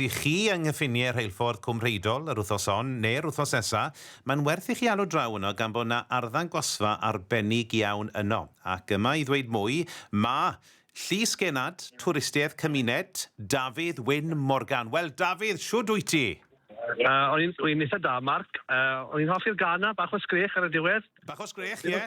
Dych chi yng nghyffiniau rheilffordd Cwm Rheidol yr wythnos hon neu'r wythnos nesa', mae'n werth i chi alw draw yno gan bod 'na arddangosfa arbennig iawn yno. Ac yma i ddweud mwy, ma', Llys Genad, Twristiaeth Cymuned, Dafydd Wyn Morgan. Wel Dafydd, shwd wyt ti? Yy o'n i'n, dwi'n itha da Mark, yy o'n i'n hoffi'r gân 'na, bach o sgrech ar y diwedd. Bach o sgrech, ie.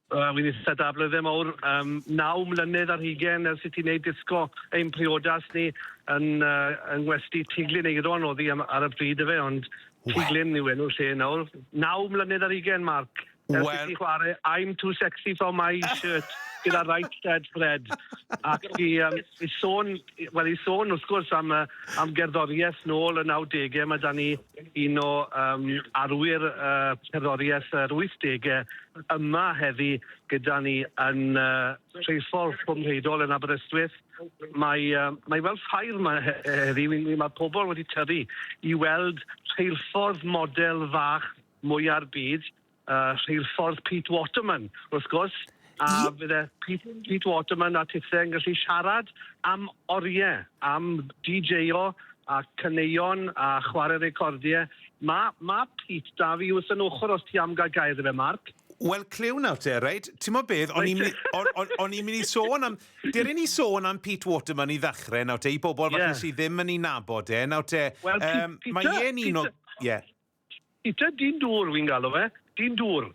Wel, wi'n itha da, blydde mowr, yym, naw mlynedd ar hugen ers i ti neud disco ein priodas ni yn yy yng ngwesty Tŷ Glyn Eiron o'dd 'i am ar y pryd yfe ond Tŷ Glyn yw enw'r lle nawr. Naw mlynedd ar hugen Mark ers i ti chware I'm too sexy for my shirt gyda Right Said Fred ac i yym i sôn Wel, i sôn wrth gwrs am, uh, am gerddoriaeth nôl y 90au, mae da ni un o um, arwyr uh, cerddoriaeth yr 80au yma heddi gyda ni yn uh, Treifol Cwmreidol yn Aberystwyth. Mae, uh, mae fel ffair mae heddi, mae pobl wedi tyru i weld rheilffordd model fach mwyar byd uh, rheilffordd Pete Waterman, wrth gwrs, a I... fydde Pete, Pete Waterman a Tithe yn gallu siarad am oriau, am DJ-o a caneuon a chwarae recordiau. Mae ma Pete da fi wrth yn ochr os ti am gael gair fe, Mark. Wel, clyw nawr te, reit? Ti'n mo beth, o'n i'n mynd i sôn am... Dyr i ni sôn am Pete Waterman i ddechrau nawr te, i bobl yeah. falle sydd ddim yn ei nabod e. Nawr te, well, um, Peter, mae e'n un o... Ie. Peter dyn dŵr wi'n galw fe, dyn dŵr.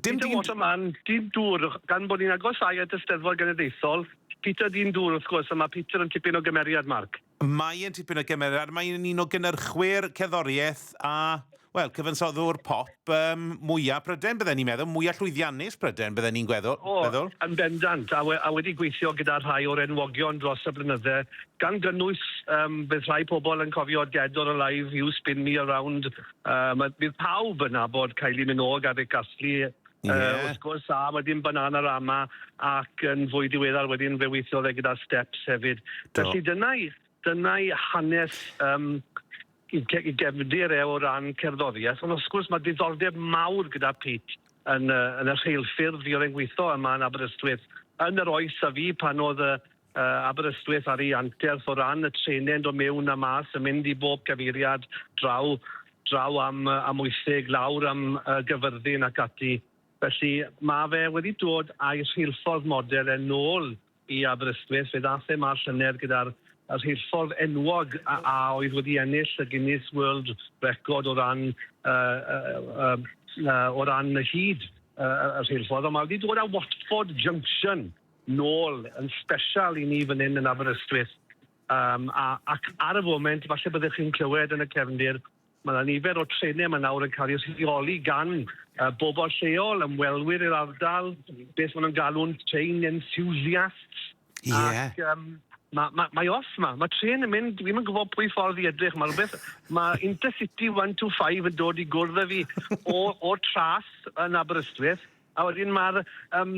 Dim Peter Waterman, dyn dŵr, gan bod ni'n agosáu at y Steddfod Genedlaethol, Peter dyn dŵr wrth gwrs, a mae Peter yn tipyn o gymeriad, Mark. Mae e'n tipyn o gymeriad, mae e'n un o gynyrchwyr cerddoriaeth a, wel, cyfansoddwr pop um, mwyaf Prydain, bydden ni'n meddwl, mwyaf llwyddiannus Prydain, bydden ni'n gweddol. O, yn bendant, a, we, a wedi gweithio gyda rhai o'r enwogion dros y blynydde, Gan gynnwys, yym, bydd rhai pobl yn cofio Dead or Alive, You Spin Me Around, yym, a bydd pawb yn nabod Kylie Minogue a Rick Astley, yy... Ie. ...wrth gwrs, a wedyn Bananarama, ac yn fwy diweddar wedyn, fe weithiodd e gyda Steps hefyd. Do. Felly dyna'i dyna'i hanes, yym, 'i ge- 'i gefndir e o ran cerddorieth, ond wrth gwrs ma' diddordeb mawr gyda Pete yn y yn y rheilffyrdd fuodd e'n gwitho yma yn Aberystwyth yn yr oes a fi pan o'dd y Aberystwyth ar ei anterth o ran y trenend o mewn a mas yn mynd i bob cyfeiriad, draw, draw am Amwythig, lawr am Gyfyrddin ac ati. Felly, mae fe wedi dod a'i rheilffordd model e nôl i Aberystwyth. Fe ddaeth e 'ma y llynedd gyda'r rheilffordd enwog a a oedd wedi ennill y Guinness World Record o ran y y y o ran hyd y y rheilffordd, ond mae wedi dod â Watford Junction. nôl yn sbesial i ni fan hyn yn Aberystwyth um, a, ac ar y foment falle byddwch chi'n clywed yn y cefndir Mae yna nifer o trenau mae nawr yn cael eu rheoli gan uh, bobl lleol, ymwelwyr i'r ardal, beth maen nhw'n galw'n train enthusiasts. Yeah. Ac um, mae, ma, mae off ma, mae tren yn mynd, fi'n gwybod pwy ffordd i edrych, mae rhywbeth, mae Intercity 125 yn dod i gwrdd â fi o, o tras yn Aberystwyth, A wedyn ma'r yym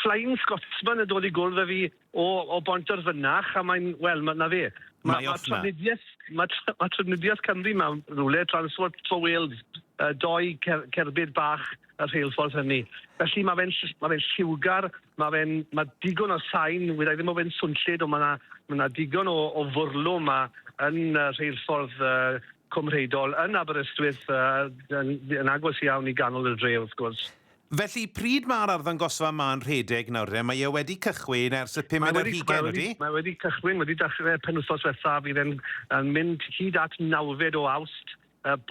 Flying Scotsman yn dod i gwrdd â fi o o Bontarfynach a mae'n, wel, ma- 'na fe. Ma' Mae ma' off 'na. trafnidieth ma' tr- ma' trafnidieth Cymru 'ma rywle, Transport for Wales, yy doi cer- cerbyd bach y rheilffordd hynny. Felly ma' fe'n ll- ma' fe'n lliwgar, ma' fe'n ma' digon o sain, wi rai ddim o fe'n swnllyd on' ma' 'na ma' 'na digon o o fwrlwm 'ma yn y rheilffordd yy Cymreigdod yn Aberystwyth, yn agos iawn i ganol y dre wrth gwrs. Felly, pryd mae'r arddangosfa ma'n rhedeg nawr de? Mae e wedi cychwyn ers y pumed ar hugain, ydy? Mae wedi cychwyn, wedi dechrau penwythnos ddiwethaf, fydd e'n yn mynd hyd at nawfed o Awst.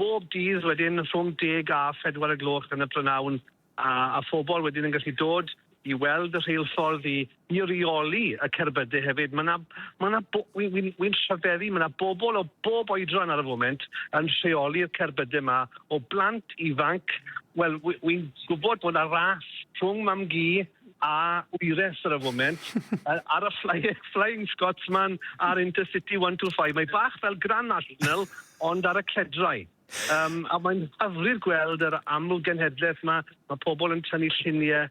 Bob dydd wedyn rhwng deg a phedwar y gloch yn y prynawn, A a phobl wedyn yn gallu dod i weld y rheilffordd i i reoli y cerbydau hefyd. Mae 'na mae 'na bo- wi wi'n wi'n rhyfeddu mae 'na bobl o bob oedran ar y foment yn rheoli'r cerbydau 'ma o blant ifanc wel wi wi'n gwybod bod 'na ras rhwng mam-gu a wyres ar y foment yy ar y fly- Flying Scotsman a'r Intercity 125 mae bach fel Grand National ond ar y cledrau. Yym a mae'n hyfryd gweld yr amlgenhedlaeth 'ma, ma' pobl yn tynnu llunie,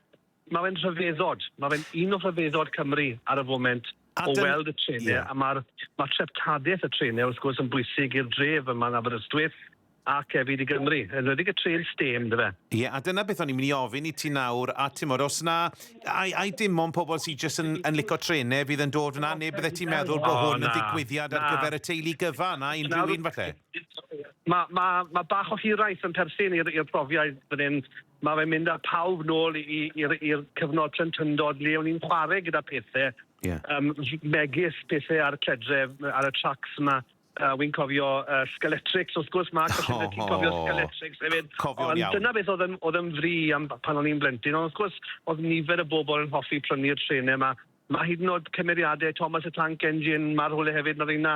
ma' fe'n rhyfeddod, ma' fe'n un o rhyfeddod Cymru ar y foment o weld y trene a ma'r ma' treftadaeth y trene wrth gwrs yn bwysig i'r dref yma yn Aberystwyth ac hefyd i Gymru, yn enwedig y trên stêm yndyfe? Ie, a dyna beth o'n i'n mynd i ofyn i ti nawr, a timod, os na, ai, ai dim ond pobl sydd jyst yn, yn licio trene fydd yn dod fyna, neu bydde ti'n meddwl bod hwn yn ddigwyddiad ar gyfer y teulu gyfan, a unrhyw un falle? Mae, mae, mae bach o hiraeth yn perthyn i'r i'r profiad fan hyn. Mae fe'n mynd â pawb nôl i i'r i'r cyfnod plentyndod le o'n i'n chware gyda pethe. Ie. Yym m- megis pethe ar y cledre m- ar y tracs 'ma. Yy wi'n cofio yy Skeletrix wrth gwrs Mark os yfe ti'n cofio Skeletrix hefyd. O cofiwn iawn. Ond dyna beth o'dd yn o'dd yn fri am b- pan o'n i'n blentyn ond wrth gwrs o'dd nifer y bobol yn hoffi prynu'r trene 'ma. Ma' hyd yn o'd cymeriade Thomas y Tank Engine ma' rhwle hefyd ma' reina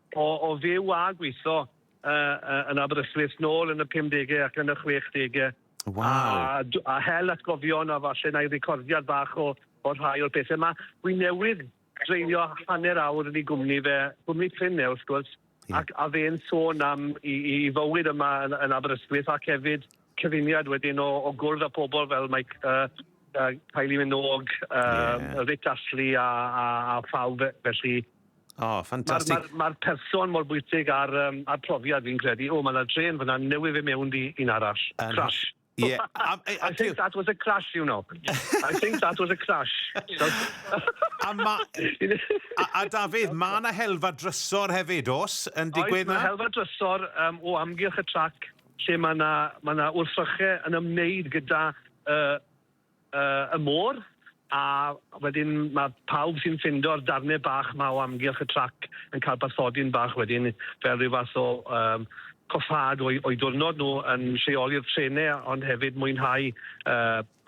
O, o fyw a gweitho yy yn Aberystwyth nôl yn y pumdege ac yn y chwechdege. Waw. A, a hel atgofion a falle na'i recordiad bach o, o rhai o'r pethau yma. Wi newydd dreulio hanner awr yn ei gwmni fe, gwmni prin e wrth gwrs, ac a fe'n sôn am i, i fywyd yma yn, yn Aberystwyth ac hefyd cyfuniad wedyn o, o gwrdd â pobl fel mae uh, uh, Kylie Minogue, uh, yeah. Rick Astley a, a, a phawb felly. O, oh, ffantastig. Mae'r ma, ma, ma person mor bwysig a'r, um, ar profiad fi'n credu. O, mae yna dren fyna newydd fe mewn di un arall. Um, Crash. Yeah. Um, I, I think that was a crash, you know. I think that was a crash. a, ma, a, a Dafydd, mae yna helfa drysor hefyd, os, yn digwydd na? Oes, mae helfa drysor um, o amgylch y trac lle mae 'na mae 'na wrthryche yn ymwneud gyda y y y môr a wedyn mae pawb sy'n ffindo'r darnau bach 'ma o amgylch y trac yn cael bathodyn bach wedyn fel rhyw fath o yym coffâd o'u o'u diwrnod nhw yn lleoli'r trenau ond hefyd mwynhau yy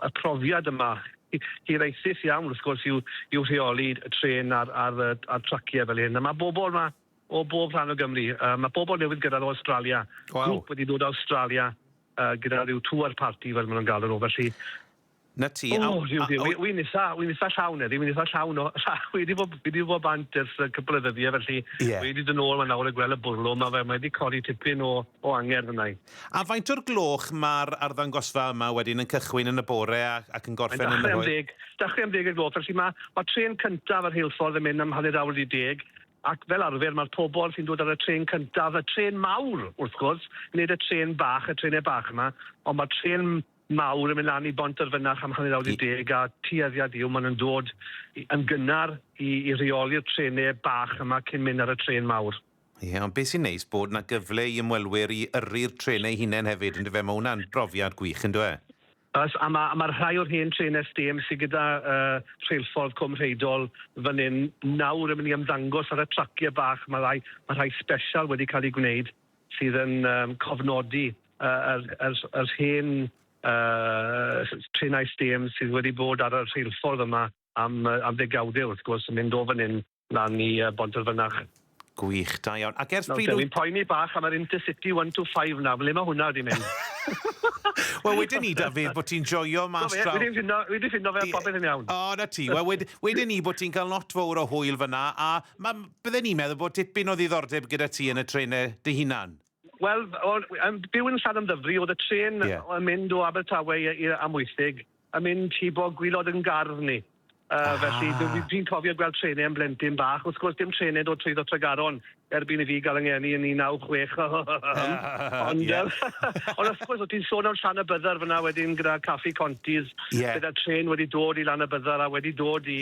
y profiad yma hi- hiraethus iawn wrth gwrs i'w i'w rheoli y trên a'r a'r yy a'r traciau fel hyn a ma' bobl 'ma o bob rhan o Gymru. Yy ma' pobol newydd gyrradd o Awstralia. Waw. Grŵp wedi dod o Awstralia yy gyda ryw tour party fel ma' nw'n galw nw felly. 'Na ti. O Duw Duw. Wi wi'n itha wi'n itha llawn heddi wi'n itha llawn o fi wedi bod fi wedi bod bant ers yy cwpwl o ddyddie felly... Ie. ...wi 'di do' nôl 'ma nawr a gwel' y bwrlwm ma' fe mae 'di codi tipyn o o angerdd arna i. A faint o'r gloch ma'r arddangosfa yma wedyn yn cychwyn yn y bore a ac yn gorffen yn yr oe-? Mae'n dachre am ddeg, dachre am ddeg o'r gloch felly ma' ma' trên cyntaf y rheilffordd yn mynd am hanner awr wedi deg Ac fel arfer mae'r pobl sy'n dod ar y trên cyntaf, y trên mawr wrth gwrs, nid y trên bach, y trenau bach yma, ond mae'r trên mawr yn mynd lan i Bontarfynach am hanner awr 10 a tueddiad yw maen nhw'n dod yn gynnar i, i reoli'r trenau bach yma cyn mynd ar y trên mawr. Ie, ond beth sy'n neis bod 'na gyfle i ymwelwyr i yrru'r trenau eu hunain hefyd, yndyfe? Mae hwnna'n brofiad gwych, yn dyw e? Oes, a ma' a ma' rhai o'r hen trên SDM sy gyda yy rheilffordd Cwm Rheidol fan 'yn nawr yn myn' i ymddangos ar y tracie bach, ma' rai ma' rhai sbesial wedi ca'l 'u gwneud sydd yn yym cofnodi yy yr yr yr hen yy s- trenau SDM sydd wedi bod ar y rheilffordd yma am yy am ddegawde wrth gwrs yn mynd o fan 'yn Na ni yy Bontyfynach. Gwych, da iawn. Ac ers pryd wyt... Nawr, dwi'n poeni bach am yr Intercity one to five 'na, ble mae hwnna wedi mynd? Wel, wedyn ni, Dafydd, bod ti'n joio mas draw... Wi 'di ffindo, wi 'di ffindo fe, a popeth yn iawn. O, 'na ti. Wel, wed- wedyn ni bod ti'n cael lot fowr o hwyl fan'na, a ma- bydden i'n meddwl bod tipyn o ddiddordeb gyda ti yn y trenau dy hunan. Wel, o'n i'n byw yn Llanymddyfri, o'dd y trên yn mynd o Abertawe i i Amwythig yn mynd i bob gwilod yn gardd ni. Yy felly dw i dwi'n cofio gweld trene yn blentyn bach, wrth gwrs dim trene yn dod trwyddo Tregaron erbyn i fi ga'l 'y ngeni yn un naw chwech ond yym ond wrth gwrs o' ti'n sôn am Llanybydder fyn 'na wedyn gyda Caffi Conti's... Ie. ...gyda'r trên wedi dod i Lanybydder a wedi dod i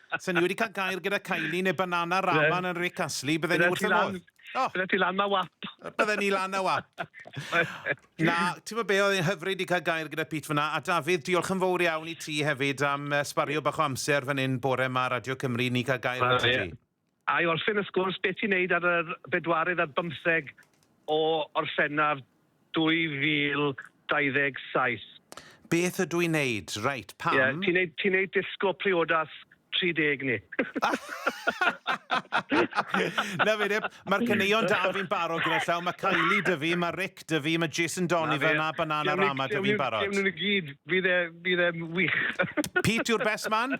Sa ni wedi cael gair gyda Kylie neu Banana Raman yn Rick Astley, bydden ni wrth y modd. O! Bydden ti lan na wap. Bydden ni lan na wap. na, ti'n fawr be, oedd e'n hyfryd i cael gair gyda Pete fyna. A Dafydd, diolch yn fawr iawn i ti hefyd am sbario bach o amser fan hyn bore yma Radio Cymru, ni cael gair gyda ti. A i orffen y sgwrs, be ti'n neud ar yr bedwaredd ar bymtheg o Orffennaf 2027? Beth ydw i'n neud? Reit, pam? Ie, ti'n neud, ti'n neud disgo priodas 30 ni. Na fe de, mae'r caneuon da fi'n barod gyda llaw, mae Kylie dy fi, mae Rick dy fi, mae Jason Donovan a Banana Rama dy fi'n barod. Lle nhw'n i gyd, bydd e, bydd e'n wych. Pete yw'r best man?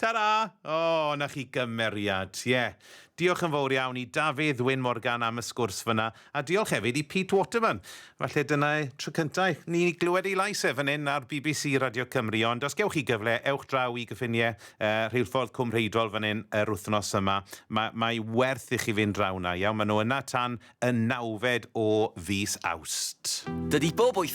Tara! O, 'na chi gymeriad. Ie. Diolch yn fowr iawn i Dafydd Wyn Morgan am y sgwrs fyna, a diolch hefyd i Pete Waterman. Falle dyna y tro cynta' i ni glywed ei lais e fan 'yn ar bbc Radio Cymru, ond os gewch chi gyfle, ewch draw i gyffinie yy rheilffordd Cwm Rheidol fan 'yn yr wythnos yma. Ma' mae werth i chi fynd draw 'na, iawn? Ma' nhw yna tan y nawfed o fis Awst. Dydi bob wythnos